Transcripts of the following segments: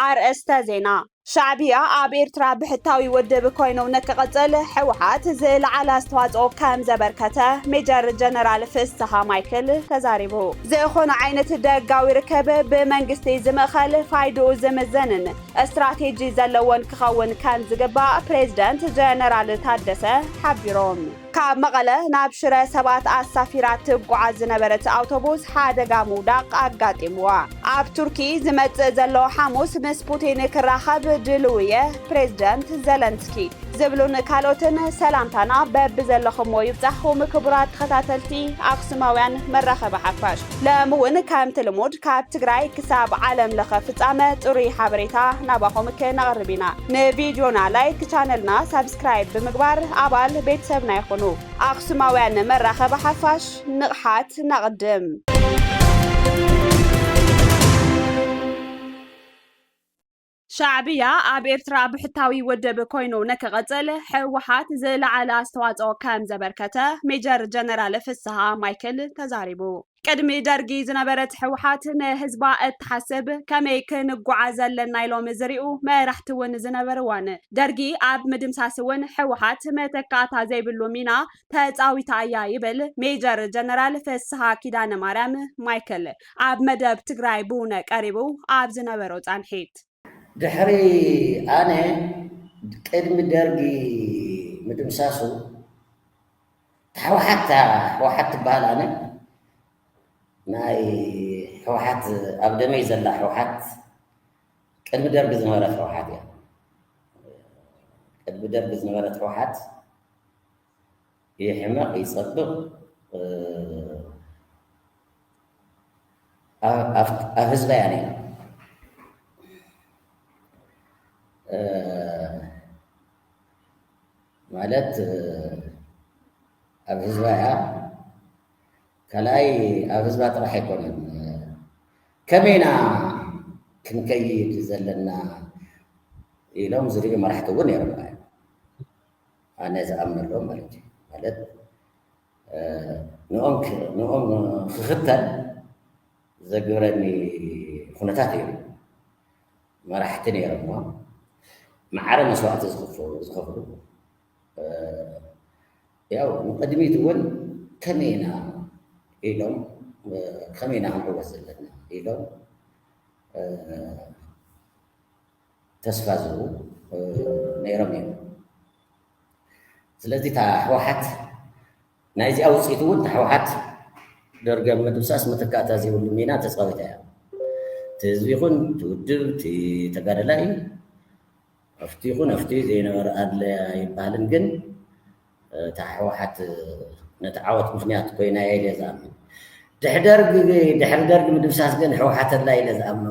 ኣርእስተ ዜና ሻዕብያ ኣብ ኤርትራ ብሕታዊ ውድብ ኮይኑ ንክቕፅል ሕወሓት ዝለዓለ ኣስተዋፅኦ ከም ዘበርከተ ሜጀር ጀነራል ፍስሃ ማይክል ተዛሪቡ። ዝኾነ ዓይነት ደጋዊ ርከብ ብመንግስቲ ዝምእኸል ፋይድኡ ዝምዘንን ስትራቴጂ ዘለዎን ክኸውን ከም ዝግባእ ፕሬዝደንት ጀነራል ታደሰ ሓቢሮም። ካብ መቐለ ናብ ሽረ ሰባት ኣሳፊራ ትጓዓዝ ዝነበረት ኣውቶቡስ ሓደጋ ምውዳቕ ኣጋጢምዋ። ኣብ ቱርኪ ዝመጽእ ዘሎ ሓሙስ ምስ ፑቲን ክራኸብ ድሉው እየ፣ ፕሬዝደንት ዘለንስኪ። ዝብሉን ካልኦትን ሰላምታና በብዘለኹምዎ ይብጻሕኹም ክቡራት ተኸታተልቲ ኣኽሱማውያን መራኸቢ ሓፋሽ። ሎሚ እውን ከምቲ ልሙድ ካብ ትግራይ ክሳብ ዓለም ለኸ ፍጻመ ጽሩይ ሓበሬታ ናባኹም ክነቕርብ ኢና። ንቪድዮና ላይክ፣ ቻነልና ሳብስክራይብ ብምግባር ኣባል ቤተሰብና ይኹኑ። ኣኽሱማውያን መራኸቢ ሓፋሽ ንቕሓት ነቕድም! ሻዕብያ ኣብ ኤርትራ ብሕታዊ ውድብ ኮይኑ ንክቕጽል ሕወሓት ዝለዓለ ኣስተዋጽኦ ከም ዘበርከተ ሜጀር ጀነራል ፍስሃ ማይክል ተዛሪቡ። ቅድሚ ደርጊ ዝነበረት ሕወሓት ንህዝባ እትሓስብ ከመይ ክንጓዓዝ ኣለና ኢሎም ዝሪኡ መራሕቲ እውን ዝነበርዋን ደርጊ ኣብ ምድምሳስ እውን ሕወሓት መተካእታ ዘይብሉ ሚና ተጻዊታ እያ ይብል ሜጀር ጀነራል ፍስሃ ኪዳነ ማርያም ማይክል ኣብ መደብ ትግራይ ብውነ ቀሪቡ ኣብ ዝነበሮ ፃንሒት። ድሕሪ ኣነ ቅድሚ ደርጊ ምድምሳሱ ታሕወሓት እታ ሕወሓት ትበሃል ኣነ ናይ ሕወሓት ኣብ ደመይ ዘላ ሕወሓት ቅድሚ ደርጊ ዝነበረት ሕወሓት እያ ቅድሚ ደርጊ ዝነበረት ሕወሓት ይሕመቅ ይጸብቅ ኣብ ህዝባ እያ ነይራ ማለት ኣብ ህዝባ እያ ካልኣይ ኣብ ህዝባ ጥራሕ ኣይኮነን ከመይና ክንከይድ ዘለና ኢሎም ዝርዩ መራሕቲ እውን ነይሮም ኣነ ዝኣምነሎም ማለት እዩ ማለት ንኦም ንኦም ክኽተል ዘግብረኒ ኩነታት እዮም መራሕቲ ነይሮሞ ማዕረ መስዋእቲ ዝኽፍሉ ዝኸፍሉ ያው ንቅድሚት እውን ከመይ ኢና ኢሎም ከመይ ኢና ክንዕወት ዘለና ኢሎም ተስፋ ዝህቡ ነይሮም እዮም። ስለዚ እታ ህወሓት ናይዚኣ ውፅኢት እውን እታ ህወሓት ደርጊ ኣብ ምድምሳስ ምትካእታ ዘይብሉ ሚና ተፃዊታ እያ። እቲ ህዝቢ ይኹን እቲ ውድብ እቲ ተጋደላይ ኣብቲ ይኹን ኣብቲ ዘይነበረ ኣድለያ ይበሃልን ግን እታ ሕወሓት ነቲ ዓወት ምኽንያት ኮይና እያ ኢለ ዝኣምን። ድሕሪ ደርግ ድሕሪ ደርግ ምድምሳስ ግን ሕወሓት ኣላ ኢለ ዝኣምኖ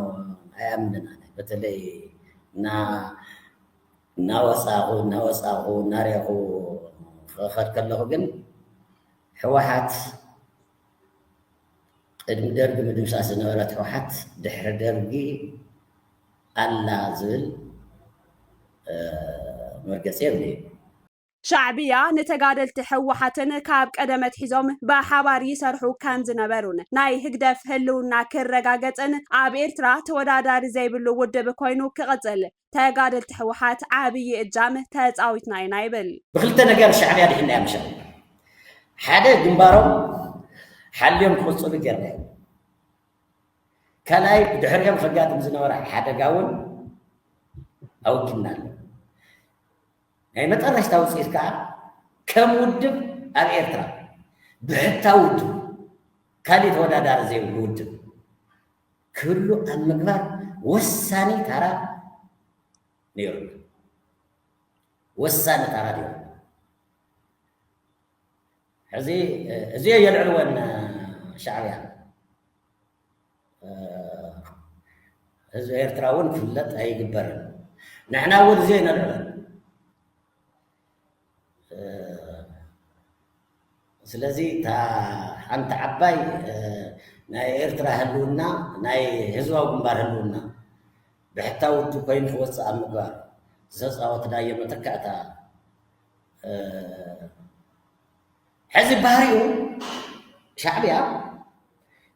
ኣይኣምንን ኣነ በተለይ እና እናወፃኹ እናወፃኹ እናሪኹ ክኸድ ከለኹ ግን ሕወሓት ቅድሚ ደርጊ ምድምሳስ ዝነበረት ህወሓት ድሕሪ ደርጊ ኣላ ዝብል መርገፂ የብለይ ሻዕብያ ንተጋደልቲ ህወሓትን ካብ ቀደም ኣትሒዞም ብሓባር ይሰርሑ ከም ዝነበሩን ናይ ህግደፍ ህልውና ክረጋገጽን ኣብ ኤርትራ ተወዳዳሪ ዘይብሉ ውድብ ኮይኑ ክቕጽል ተጋደልቲ ህወሓት ዓብዪ እጃም ተጻዊትና ኢና ይብል። ብክልተ ነገር ሻዕብያ ኣድሒንናያ ምሸት ሓደ ግንባሮም ሓልዮም ክቕጽሉ ጌርናዮም ካልኣይ ብድሕሪኦም ከጋጥም ዝነበረ ሓደጋ እውን ኣወጊድናሉ። ናይ መጠረሽታ ውጽኢት ከኣ ከም ውድብ ኣብ ኤርትራ ብሕታዊ ውድብ ካልእ ተወዳዳሪ ዘይብሉ ውድብ ክህሉ ኣብ ምግባር ወሳኒ ታራ ነይሩና። ወሳኒ ታራ ነይሩ። ሕዚ እዚኦ የልዕልወን ሻዕብያ ህዝቢ ኤርትራ እውን ክፍለጥ ኣይግበርን ንሕና እውን እዚ ኣይነልዕሎ ስለዚ እታ ሓንቲ ዓባይ ናይ ኤርትራ ህልውና ናይ ህዝባዊ ግንባር ህልውና ብሕታዊ ውድብ ኮይኑ ክወፅእ ኣብ ምግባር ዝተፃወትናዮ መተካእታ ሕዚ ባህሪኡ ሻዕብያ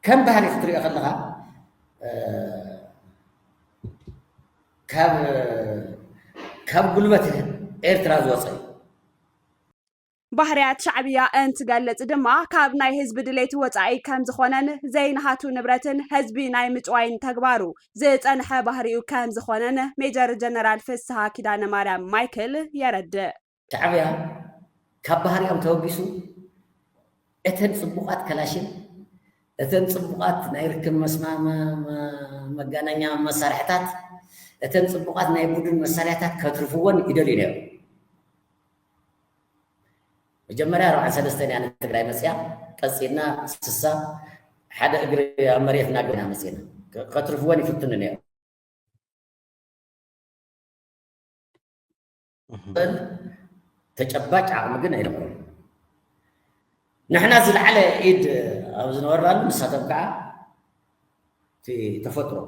ከም ባህሊ ክትሪኦ ከለኻ ካብ ጉልበት ኤርትራ ዝወፀ እዩ። ባህርያት ሻዕብያ እንትገልጽ ድማ ካብ ናይ ህዝቢ ድሌት ወጻኢ ከም ዝኾነን ዘይንሃቱ ንብረትን ህዝቢ ናይ ምጭዋይን ተግባሩ ዝጸንሐ ባህሪኡ ከም ዝኾነን ሜጀር ጀነራል ፍስሃ ኪዳነ ማርያም ማይክል የረድእ። ሻዕብያ ካብ ባህሪኦም ተበጊሱ እተን ፅቡቓት ከላሽን እተን ፅቡቓት ናይ ርክብ መጋናኛ መሳርሕታት እተን ፅቡቓት ናይ ቡድን መሳርያታት ከትርፍዎን ይደልዩ ነይሩ መጀመርያ ኣርባዓን ሰለስተን እያ ንትግራይ መፅያ ቀፂልና ስሳ ሓደ እግሪ ኣብ መሬት እናገና መፅና ከትርፍዎን ይፍትኑ ነይሩ እምበር ተጨባጭ ዓቕሚ ግን ኣይረኽቡን። ንሕና ዝለዓለ ኢድ ኣብ ዝነበርናሉ ንሳቶም ከዓ እቲ ተፈጥሮ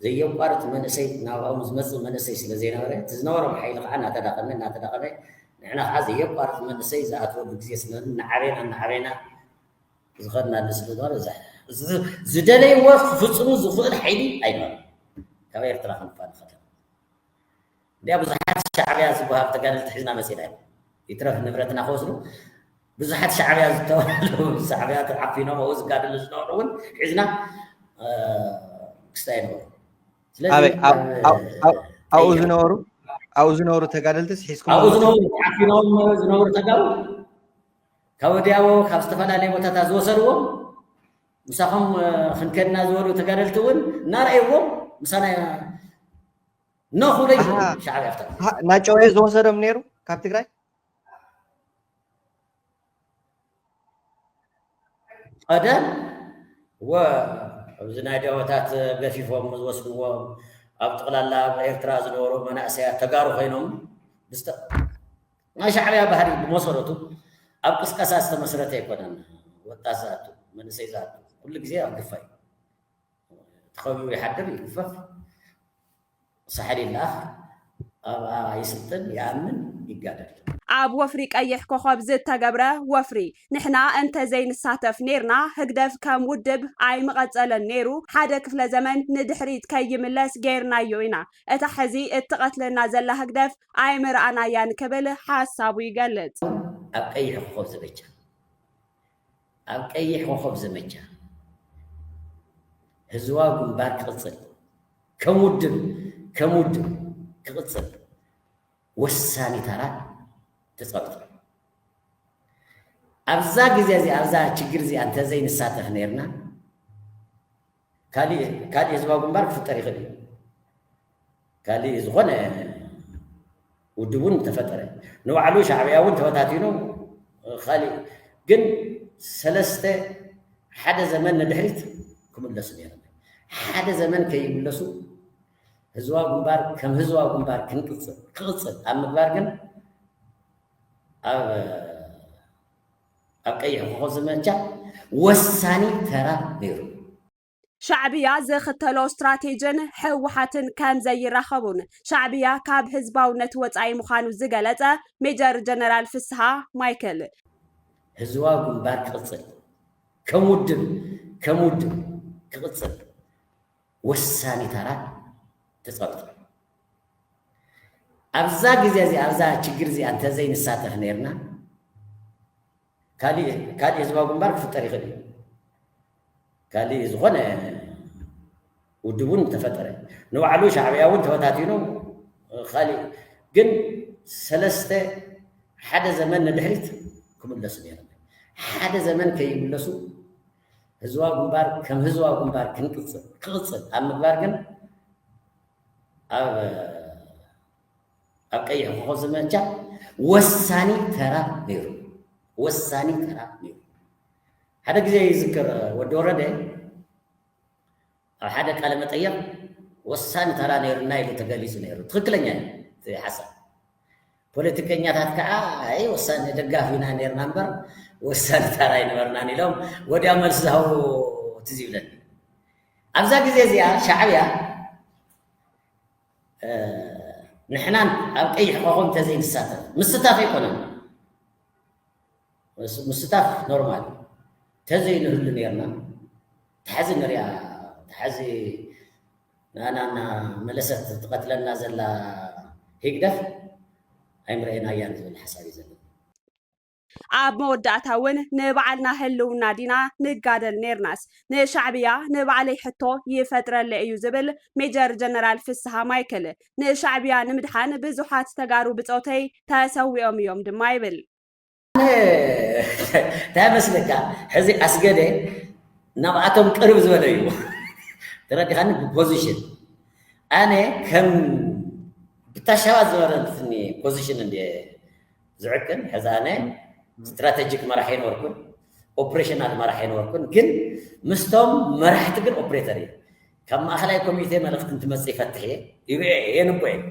ዘየቋርፅ መንእሰይ ናብኦም ዝመፅእ መንእሰይ ስለ ዘይነበረ እቲ ዝነበሮም ሓይሊ ከዓ እናተዳቐመ እናተዳቐመ ንሕና ከዓ ዘየቋርፅ መንእሰይ ዝኣትወሉ ግዜ ስለ እናዓበና እናዓበና ዝኸድናሉ ስለ ዝበረ ዝደለይዎ ክፍፅሙ ዝኽእል ሓይሊ ኣይነበረን ካብ ኤርትራ ክንፋ ንኸደ እንድያ ብዙሓት ሻዕብያ ዝብሃሉ ተጋደልቲ ሒዝና መጺእና ኢሎም ይትረፍ ንብረትና ክወስዱ ብዙሓት ሻዕብያ ዝተባህሉ ሻዕብያ ተዓፊኖም ኣብኡ ዝጋደሉ ዝነበሩ እውን ሒዝና ክስታይ ነበሩ ስለዚ ኣብኡ ዝነበሩ ኣብኡ ዝነበሩ ተጋደልትስ ሒዝኩም ኣብኡ ዝነበሩ ተዓፊኖም ዝነበሩ ተጋሩ ካብ ወዲያቦ ካብ ዝተፈላለየ ቦታታት ዝወሰድዎም ምሳኹም ክንከድና ዝበሉ ተጋደልቲ እውን እናረእይዎም ምሳና ኖ ክብሎ እዩ ዝብል ሻዕብያ ኣብታ ግዜ ሀ- ናጨው እዩ ዝወሰዶም ነይሩ ካብ ትግራይ ቀደም ወ ኣብዚ ናይ ደወታት ገፊፎም ዝወስድዎም ኣብ ጠቕላላ ኣብ ኤርትራ ዝነበሩ መናእሰያት ተጋሩ ኮይኖም ብዝተ ናይ ሻዕብያ ባህሪ ብመሰረቱ ኣብ ቅስቀሳ ዝተመስረተ ኣይኮነን ወጣት ዝኣቱ መንእሰይ ዝኣቱ ኩሉ ግዜ ኣብ ግፋ እዩ ተኸቢቡ ይሓድር ይግፈፍ ሳሕል ይለኣኽ ኣብኣ ይስልጥን ይኣምን ይጋደል። ኣብ ወፍሪ ቀይሕ ኮኾብ ዝተገብረ ወፍሪ ንሕና እንተዘይንሳተፍ ኔርና ህግደፍ ከም ውድብ ኣይምቐጸለን ኔሩ ሓደ ክፍለ ዘመን ንድሕሪት ከይምለስ ጌርናዮ ኢና እታ ሕዚ እትቐትለና ዘላ ህግደፍ ኣይምረኣናያን ክብል ሓሳቡ ይገልጽ። ኣብ ቀይሕ ኮኾብ ዘመቻ ኣብ ቀይሕ ኮኾብ ዘመቻ ህዝባዊ ግንባር ክቕጽል ከም ውድብ ከም ውድብ ክቕጽል ወሳኒ ተራ ተጻዊቱ ኣሎ። ኣብዛ ግዜ እዚኣ ኣብዛ ችግር እዚኣ እንተዘይንሳተፍ ኔርና፣ ካሊእ ካሊእ ህዝባዊ ግንባር ክፍጠር ይኽእል እዩ። ካሊእ ዝኾነ ውድብ እውን ተፈጠረ ንባዕሉ ሻዕብያ እውን ተበታቲኑ ካሊእ ግን ሰለስተ ሓደ ዘመን ንድሕሪት ክምለሱ ነይሮም። ሓደ ዘመን ከይምለሱ ህዝባዊ ግንባር ከም ህዝባዊ ግንባር ክንቅፅል ክቕፅል ኣብ ምግባር ግን ኣብ ኣብ ቀይሕ ኮኾብ ዘመቻ ወሳኒ ተራ ነይሩ። ሻዕብያ ዝኽተሎ ስትራቴጅን ህወሓትን ከምዘይራኸቡን ሻዕብያ ካብ ህዝባውነት ወፃኢ ምዃኑ ዝገለፀ ሜጀር ጀነራል ፍስሃ ማይክል፣ ህዝባዊ ግንባር ክቕፅል ከም ውድብ ከም ውድብ ክቕፅል ወሳኒ ተራ ተፃዊቱ። ኣብዛ ግዜ እዚኣ ኣብዛ ችግር እዚኣ እንተዘይ ንሳተፍ ነይርና ካልእ ካልእ ህዝባዊ ግንባር ክፍጠር ይኽእል እዩ ካልእ ዝኾነ ውድብ እውን ተፈጠረ ንባዕሉ ሻዕብያ እውን ተበታቲኑ ካልእ ግን ሰለስተ ሓደ ዘመን ንድሕሪት ክምለሱ ነይሩ ሓደ ዘመን ከይምለሱ ህዝባዊ ግንባር ከም ህዝባዊ ግንባር ክንቅፅል ክቕፅል ኣብ ምግባር ግን ኣብ ቀይሕ ኮኾብ ዘመቻ ወሳኒ ተራ ነይሩ ወሳኒ ተራ ነይሩ። ሓደ ግዜ ይዝክር ወዲ ወረደ ኣብ ሓደ ቃለ መጠየቕ ወሳኒ ተራ ነይሩና ኢሉ ተገሊጹ ነይሩ። ትኽክለኛ እዩ ሓሳብ ፖለቲከኛታት ከኣ ኣይ ወሳኒ ደጋፍ ኢና ኔርና እምበር ወሳኒ ታራ ኣይነበርናን ኢሎም ወዲያው መልሲ ዝሃቡ ትዝ ይብለኒ። ኣብዛ ግዜ እዚኣ ሻዕብያ ንሕናን ኣብ ቀይሕ ኮኾብ እንተዘይንሳተፍ ምስታፍ ኣይኮነን ምስታፍ ኖርማል ተዘይንህሉ ነርና ተሓዚ ንሪኣ ተሓዚ ንኣና እና መለሰት ትቀትለና ዘላ ሂግደፍ ኣይምረኤናያን ዝብል ሓሳብ እዩ ዘለኒ። ኣብ መወዳእታ ውን ንባዕልና ህልውና ዲና ንጋደል ኔርናስ ንሻዕብያ ንባዕለይ ሕቶ ይፈጥረለይ እዩ ዝብል ሜጀር ጀነራል ፍስሃ ማይክል ንሻዕብያ ንምድሓን ብዙሓት ተጋሩ ብፆተይ ተሰዊኦም እዮም ድማ ይብል። እንታይ መስለካ ሕዚ ኣስገደ ናብኣቶም ቅርብ ዝበለ እዩ ተረዲኻኒ ብፖዚሽን ኣነ ከም ብታሻባ ዝበረትኒ ፖዚሽን እንደ ዝዕቅን ሕዚ ኣነ ስትራቴጂክ መራሕ ኣይነበርኩን ኦፕሬሽናል መራሕ ኣይነበርኩን ግን ምስቶም መራሕቲ ግን ኦፕሬተር እዩ ካብ ማእኸላይ ኮሚቴ መልእኽቲ እንትመፅእ ይፈትሕ እየ ይርአ የንቦ እየ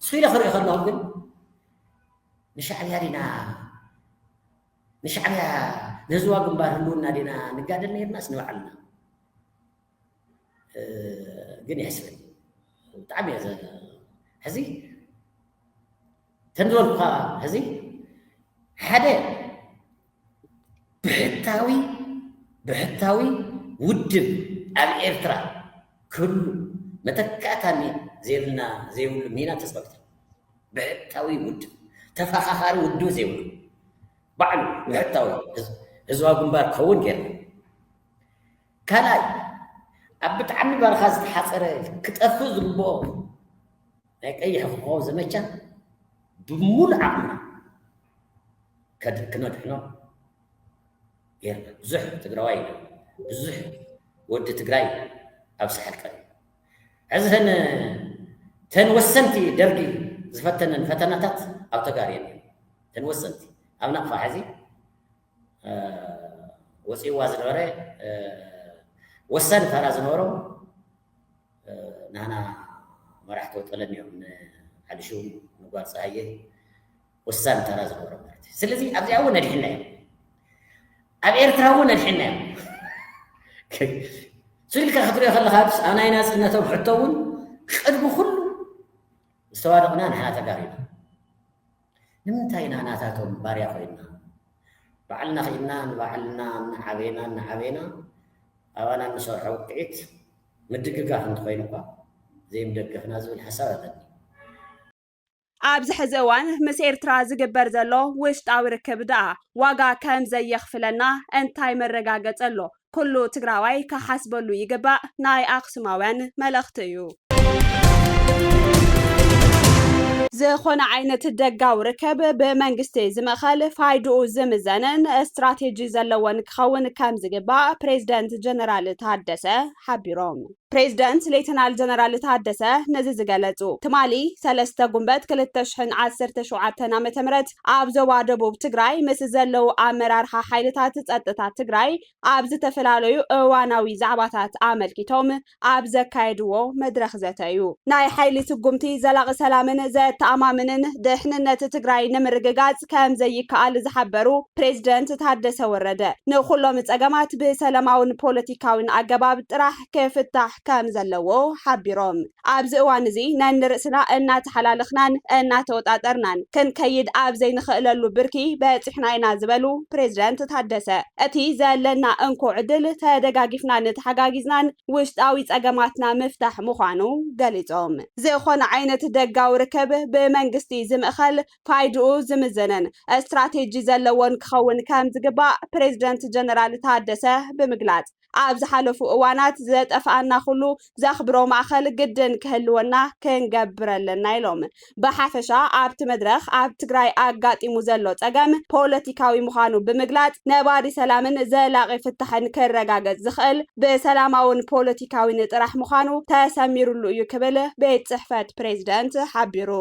ስኢለ ክርኢ ከለኹ ግን ንሻዕብያ ዲና ንሻዕብያ ንህዝባ ግንባር ህልውና ዲና ንጋደል ነርናስ ንባዕልና ግን የሕስበኒ ብጣዕሚ እየ ሕዚ ከም ዝበልኩኻ ሕዚ ሓደ ብሕታዊ ብሕታዊ ውድብ ኣብ ኤርትራ ክህሉ መተካእታ ዘይብልና ዘይብሉ ሚና ተፃዊቱ ብሕታዊ ውድብ ተፈኻኻሪ ውድብ ዘይብሉ ባዕሉ ብሕታዊ ህዝባዊ ግንባር ክኸውን ገይርና ካልኣይ ኣብ ብጣዕሚ በረኻ ዝተሓፀረ ክጠፍእ ዝግብኦ ናይ ቀይሕ ኮኾብ ዘመቻ ብምሉእ ዓቕምና ክነድሕኖ ጌርና። ብዙሕ ትግራዋይ ኢና፣ ብዙሕ ወዲ ትግራይ ኣብ ሳሕል ቀሪቡ። ሕዚ ተን ወሰንቲ ደርጊ ዝፈተነን ፈተናታት ኣብ ተጋር የለን። ተን ወሰንቲ ኣብ ናቕፋ ሕዚ ወፂእዋ ዝነበረ ወሳኒ ተራ ዝነበሮም ናህና መራሕቶ ጠለም እዮም ንዓልሹ ንጓል ፀሃየ ወሳኒ ተራ ዝነበሮም ማለት እዩ ስለዚ ኣብዚኣ እውን ነድሕና እዮም ኣብ ኤርትራ እውን ነድሕና እዮም ስኢልካ ክትሪኦ ከለካ ኣብ ናይ ናፅነቶም ሕቶ እውን ቅድሚ ኩሉ ዝተዋደቕና ንሕና ተጋሩ ኢና ንምንታይ ኢና ናታቶም ባርያ ኮይና ባዕልና ኪድና ንባዕልና እናዓበና እናዓበና ኣባና እንሰርሖ ውቅዒት ምድግጋፍ እንተኮይኑ እኳ ዘይምደገፍና ዝብል ሓሳብ ኣለኒ። ኣብዚ ሕዚ እዋን ምስ ኤርትራ ዝግበር ዘሎ ውሽጣዊ ርክብ ደኣ ዋጋ ከምዘየኽፍለና እንታይ መረጋገጺ ኣሎ? ኩሉ ትግራዋይ ክሓስበሉ ይግባእ ናይ ኣክሱማውያን መልእክቲ እዩ። ዝኾነ ዓይነት ደጋዊ ርከብ ብመንግስቲ ዝምእኸል፣ ፋይድኡ ዝምዘንን ስትራቴጂ ዘለዎን ክኸውን ከምዝግባእ ፕሬዝደንት ጀነራል ታደሰ ሓቢሮም። ፕሬዝደንት ሌተናል ጀነራል ታደሰ ነዚ ዝገለፁ ትማሊ ሰለስተ ጉንበት ክልተ ሽሕን ዓሰርተ ሸውዓተን ዓ ም ኣብ ዞባ ደቡብ ትግራይ ምስ ዘለዉ ኣመራርሓ ሓይልታት ፀጥታ ትግራይ ኣብ ዝተፈላለዩ እዋናዊ ዛዕባታት ኣመልኪቶም ኣብ ዘካየድዎ መድረኽ ዘተ እዩ። ናይ ሓይሊ ስጉምቲ ዘላቒ ሰላምን ዘተኣማምንን ድሕንነት ትግራይ ንምርግጋፅ ከምዘይከኣል ዝሓበሩ ፕሬዝደንት ታደሰ ወረደ፣ ንኹሎም ፀገማት ብሰለማውን ፖለቲካዊን ኣገባብ ጥራሕ ክፍታሕ ክፍለጥ ከም ዘለዎ ሓቢሮም። ኣብዚ እዋን እዚ ነንርእስና እናተሓላለኽናን እናተወጣጠርናን ክንከይድ ኣብ ዘይንኽእለሉ ብርኪ በፂሕና ኢና ዝበሉ ፕሬዚደንት ታደሰ እቲ ዘለና እንኮ ዕድል ተደጋጊፍናን ተሓጋጊዝናን ውሽጣዊ ፀገማትና ምፍታሕ ምዃኑ ገሊፆም። ዝኾነ ዓይነት ደጋዊ ርክብ ብመንግስቲ ዝምእኸል፣ ፋይድኡ ዝምዘንን ስትራቴጂ ዘለዎን ክኸውን ከም ዝግባእ ፕሬዚደንት ጀነራል ታደሰ ብምግላፅ፣ ኣብ ዝሓለፉ እዋናት ዘጠፍኣና ኩሉ ዘኽብሮ ማእኸል ግድን ክህልወና ክንገብር ኣለና ኢሎም። ብሓፈሻ ኣብቲ መድረኽ ኣብ ትግራይ ኣጋጢሙ ዘሎ ፀገም ፖለቲካዊ ምዃኑ ብምግላፅ ነባሪ ሰላምን ዘላቒ ፍታሕን ክረጋገፅ ዝኽእል ብሰላማውን ፖለቲካዊን ጥራሕ ምዃኑ ተሰሚርሉ እዩ ክብል ቤት ፅሕፈት ፕሬዝደንት ሓቢሩ።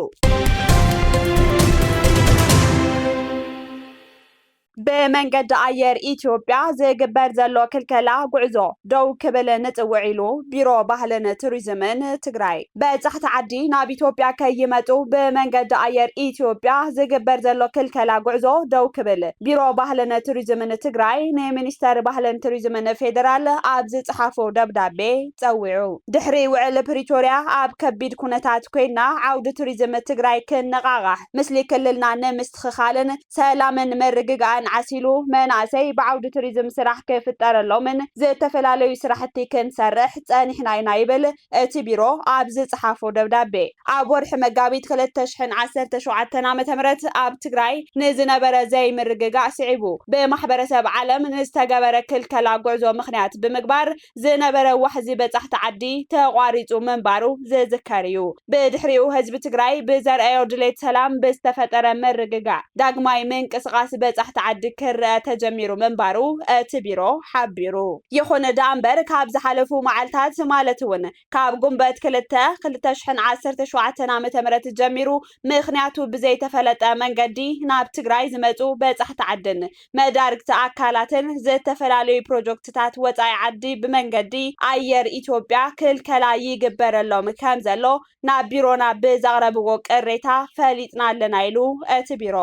ብመንገዲ ኣየር ኢትዮጵያ ዝግበር ዘሎ ክልከላ ጉዕዞ ደው ክብል ንፅውዕ ኢሉ ቢሮ ባህልን ቱሪዝምን ትግራይ በፃሕቲ ዓዲ ናብ ኢትዮጵያ ከይመፁ ብመንገዲ ኣየር ኢትዮጵያ ዝግበር ዘሎ ክልከላ ጉዕዞ ደው ክብል ቢሮ ባህልን ቱሪዝምን ትግራይ ንሚኒስተር ባህልን ቱሪዝምን ፌዴራል ኣብ ዝፅሓፎ ደብዳቤ ፀዊዑ። ድሕሪ ውዕል ፕሪቶሪያ ኣብ ከቢድ ኩነታት ኮይና ዓውዲ ቱሪዝም ትግራይ ክነቓቓሕ ምስሊ ክልልና ንምስትኽኻልን ሰላምን ምርግጋእን ዓሲሉ መናእሰይ ብዓውዲ ቱሪዝም ስራሕ ክፍጠረሎምን ዝተፈላለዩ ስራሕቲ ክንሰርሕ ፀኒሕና ኢና ይብል እቲ ቢሮ ኣብ ዝፀሓፎ ደብዳቤ። ኣብ ወርሒ መጋቢት ክልተ ሽሕን ዓሰርተ ሸውዓተን ዓመተ ምህረት ኣብ ትግራይ ንዝነበረ ዘይምርግጋእ ስዒቡ ብማሕበረሰብ ዓለም ንዝተገበረ ክልከላ ጉዕዞ ምኽንያት ብምግባር ዝነበረ ዋሕዚ በፃሕቲ ዓዲ ተቋሪፁ ምንባሩ ዝዝከር እዩ። ብድሕሪኡ ህዝቢ ትግራይ ብዘርኣዮ ድሌት ሰላም ብዝተፈጠረ ምርግጋእ ዳግማይ ምንቅስቓስ በፃሕቲ ዓዲ ክረኣ ተጀሚሩ ምንባሩ እቲ ቢሮ ሓቢሩ። ይኹን ደኣምበር ካብ ዝሓለፉ መዓልታት ማለት እውን ካብ ጉንበት ክልተ ክልተ ሽሕን ዓሰርተ ሸውዓተን ዓመተ ምህረት ጀሚሩ ምኽንያቱ ብዘይተፈለጠ መንገዲ ናብ ትግራይ ዝመፁ በፃሕቲ ዓድን መዳርግቲ ኣካላትን ዝተፈላለዩ ፕሮጀክትታት ወፃኢ ዓዲ ብመንገዲ ኣየር ኢትዮጵያ ክልከላ ይግበረሎም ከምዘሎ ናብ ቢሮና ብዘቕረብዎ ቅሬታ ፈሊጥና ኣለና ኢሉ እቲ ቢሮ።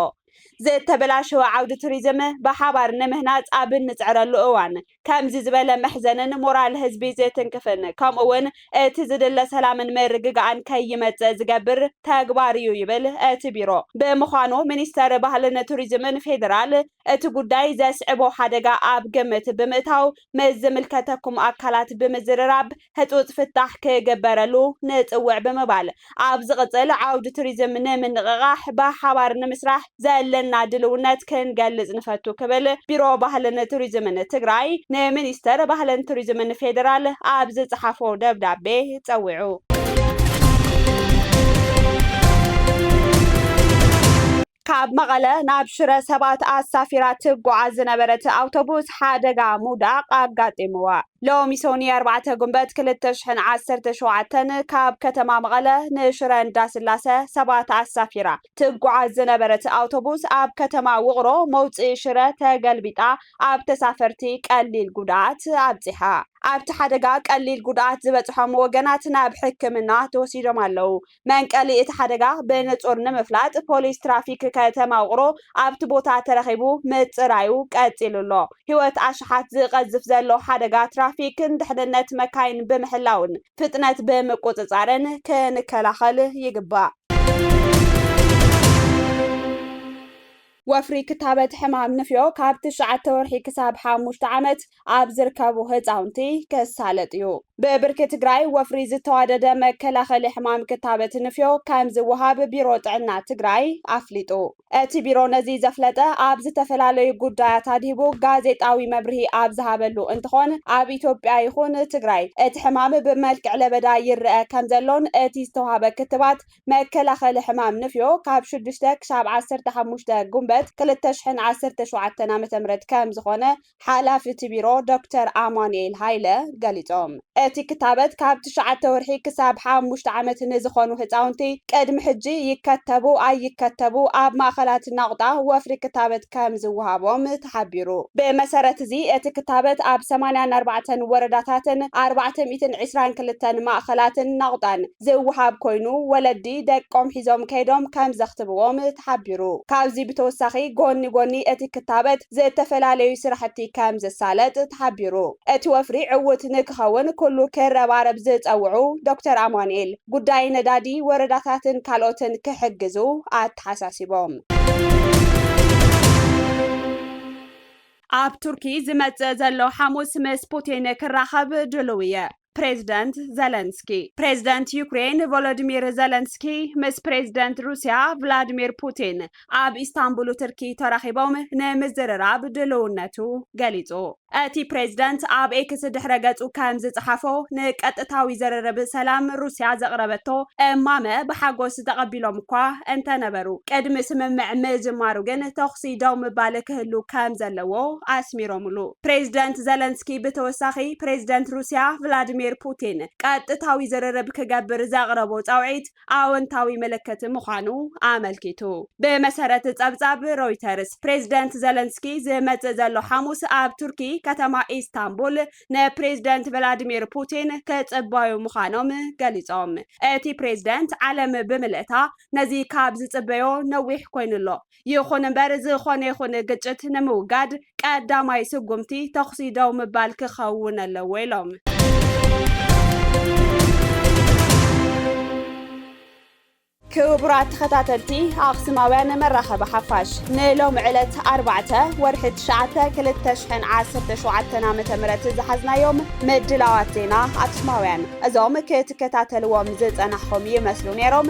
ዝተበላሸወ ዓውዲ ቱሪዝም ብሓባር ንምህናፅ ኣብ እንፅዕረሉ እዋን ከምዚ ዝበለ መሕዘንን ሞራል ህዝቢ ዝትንክፍን ከምኡ እውን እቲ ዝድለ ሰላምን ምርግጋእን ከይመፅእ ዝገብር ተግባር እዩ ይብል እቲ ቢሮ። ብምዃኑ ሚኒስቴር ባህልን ቱሪዝምን ፌዴራል እቲ ጉዳይ ዘስዕቦ ሓደጋ ኣብ ግምት ብምእታው ምስ ዝምልከተኩም ኣካላት ብምዝርራብ ህፁፅ ፍታሕ ክግበረሉ ንፅውዕ ብምባል ኣብ ዝቕፅል ዓውዲ ቱሪዝም ንምንቕቓሕ ብሓባር ንምስራሕ ዘለና ድልውነት ክንገልፅ ንፈቱ ክብል ቢሮ ባህልን ቱሪዝምን ትግራይ ንሚኒስቴር ባህልን ቱሪዝምን ፌዴራል ኣብ ዝፀሓፎ ደብዳቤ ፀዊዑ። ካብ መቐለ ናብ ሽረ ሰባት ኣሳፊራ ትጓዓዝ ዝነበረት ኣውቶቡስ ሓደጋ ምውዳቕ ኣጋጢምዋ። ሎሚ ሰኑይ ኣርባዕተ ጉንበት ክልተ ሽሕን ዓሰርተ ሸውዓተን ካብ ከተማ መቐለ ንሽረ እንዳስላሰ ሰባት ኣሳፊራ ትጓዓዝ ዝነበረት ኣውቶቡስ ኣብ ከተማ ውቕሮ መውፅኢ ሽረ ተገልቢጣ ኣብ ተሳፈርቲ ቀሊል ጉድኣት ኣብፂሓ። ኣብቲ ሓደጋ ቀሊል ጉድኣት ዝበፅሖም ወገናት ናብ ሕክምና ተወሲዶም ኣለው። መንቀሊ እቲ ሓደጋ ብንፁር ንምፍላጥ ፖሊስ ትራፊክ ከተማ ውቕሮ ኣብቲ ቦታ ተረኺቡ ምፅራዩ ቀፂሉ ኣሎ። ህይወት ኣሽሓት ዝቐዝፍ ዘሎ ሓደጋ ትራፊክን ድሕንነት መካይን ብምሕላውን ፍጥነት ብምቁፅፃርን ክንከላኸል ይግባእ። ወፍሪ ክታበት ሕማም ንፍዮ ካብ ትሽዓተ ወርሒ ክሳብ ሓሙሽተ ዓመት ኣብ ዝርከቡ ህፃውንቲ ክሳለጥ እዩ። ብብርኪ ትግራይ ወፍሪ ዝተዋደደ መከላኸሊ ሕማም ክታበት ንፍዮ ከምዝወሃብ ቢሮ ጥዕና ትግራይ ኣፍሊጡ። እቲ ቢሮ ነዚ ዘፍለጠ ኣብ ዝተፈላለዩ ጉዳያት ኣድሂቡ ጋዜጣዊ መብርሂ ኣብ ዝሃበሉ እንትኾን ኣብ ኢትዮጵያ ይኹን ትግራይ እቲ ሕማም ብመልክዕ ለበዳ ይረኣ ከምዘሎን እቲ ዝተውሃበ ክትባት መከላኸሊ ሕማም ንፍዮ ካብ ሽዱሽተ ክሳብ ዓሰርተ ሓሙሽተ ጉንበት ክልተ ሽሕን ዓሰርተ ሸውዓተን ዓ ም ከምዝኾነ ሓላፊ እቲ ቢሮ ዶክተር ኣማኑኤል ሃይለ ገሊፆም። እቲ ክታበት ካብ ትሽዓተ ወርሒ ክሳብ ሓሙሽተ ዓመት ንዝኾኑ ህፃውንቲ ቅድሚ ሕጂ ይከተቡ ኣይከተቡ ኣብ ማእኸላት ናቑጣ ወፍሪ ክታበት ከምዝወሃቦም ተሓቢሩ። ብመሰረት እዚ እቲ ክታበት ኣብ ሰማንያን ኣርባዕተን ወረዳታትን ኣርባዕተ ሚእትን ዕስራን ክልተን ማእኸላትን ናቑጣን፣ ዝወሃብ ኮይኑ ወለዲ ደቆም ሒዞም ከይዶም ከምዘኽትብዎም ተሓቢሩ። ካብዚ ብተወሳኺ ጎኒ ጎኒ እቲ ክታበት ዝተፈላለዩ ስራሕቲ ከምዝሳለጥ ተሓቢሩ። እቲ ወፍሪ ዕዉት ንክኸውን ኩሉ ክረባረብ ዝፀውዑ ዶክተር ኣማኑኤል፣ ጉዳይ ነዳዲ ወረዳታትን ካልኦትን ክሕግዙ ኣተሓሳሲቦም። ኣብ ቱርኪ ዝመጽእ ዘሎ ሓሙስ ምስ ፑቲን ክራኸብ ድሉው እየ። ፕሬዝደንት ዘለንስኪ። ፕሬዝደንት ዩክሬን ቮሎዲሚር ዘለንስኪ ምስ ፕሬዝደንት ሩስያ ቭላድሚር ፑቲን ኣብ ኢስታንቡሉ ትርኪ ተራኺቦም ንምዝርራብ ድልውነቱ ገሊጹ። እቲ ፕሬዝደንት ኣብ ኤክስ ድሕረ ገጹ ከም ዝጸሓፎ፣ ንቀጥታዊ ዝርርብ ሰላም ሩስያ ዘቕረበቶ እማመ ብሓጎስ ተቐቢሎም'ኳ እንተነበሩ፣ ቅድሚ ስምምዕ ምጅማሩ ግን ተኹሲ ደው ምባል ክህሉ ከም ዘለዎ ኣስሚሮምሉ። ፕሬዝደንት ዘለንስኪ ብተወሳኺ ፕሬዝደንት ሩስያ ቭላድሚር ፑቲን ቀጥታዊ ዝርርብ ክገብር ዘቕረቦ ጻውዒት ኣወንታዊ ምልክት ምዃኑ ኣመልኪቱ። ብመሰረት ጸብጻብ ሮይተርስ፣ ፕሬዝደንት ዘለንስኪ ዝመጽእ ዘሎ ሓሙስ ኣብ ቱርኪ ከተማ ኢስታንቡል ንፕሬዝደንት ቭላድሚር ፑቲን ክጽበዩ ምዃኖም ገሊጾም። እቲ ፕሬዝደንት ዓለም ብምልእታ ነዚ ካብ ዝጽበዮ ነዊሕ ኮይኑ ኣሎ፣ ይኹን እምበር ዝኾነ ይኹን ግጭት ንምውጋድ ቀዳማይ ስጉምቲ ተኹሲ ደው ምባል ክኸውን ኣለዎ ኢሎም። ክቡራት ተኸታተልቲ ኣኽስማውያን መራኸቢ ሓፋሽ ንሎሚ ዕለት ኣርባዕተ ወርሒ ትሽዓተ ክልተ ሽሕን ዓሰርተ ሸውዓተን ዓመተ ምህረት ዝሓዝናዮም ምድላዋት ዜና ኣኽስማውያን እዞም ክትከታተልዎም ዝጸናሕኹም ይመስሉ ነይሮም።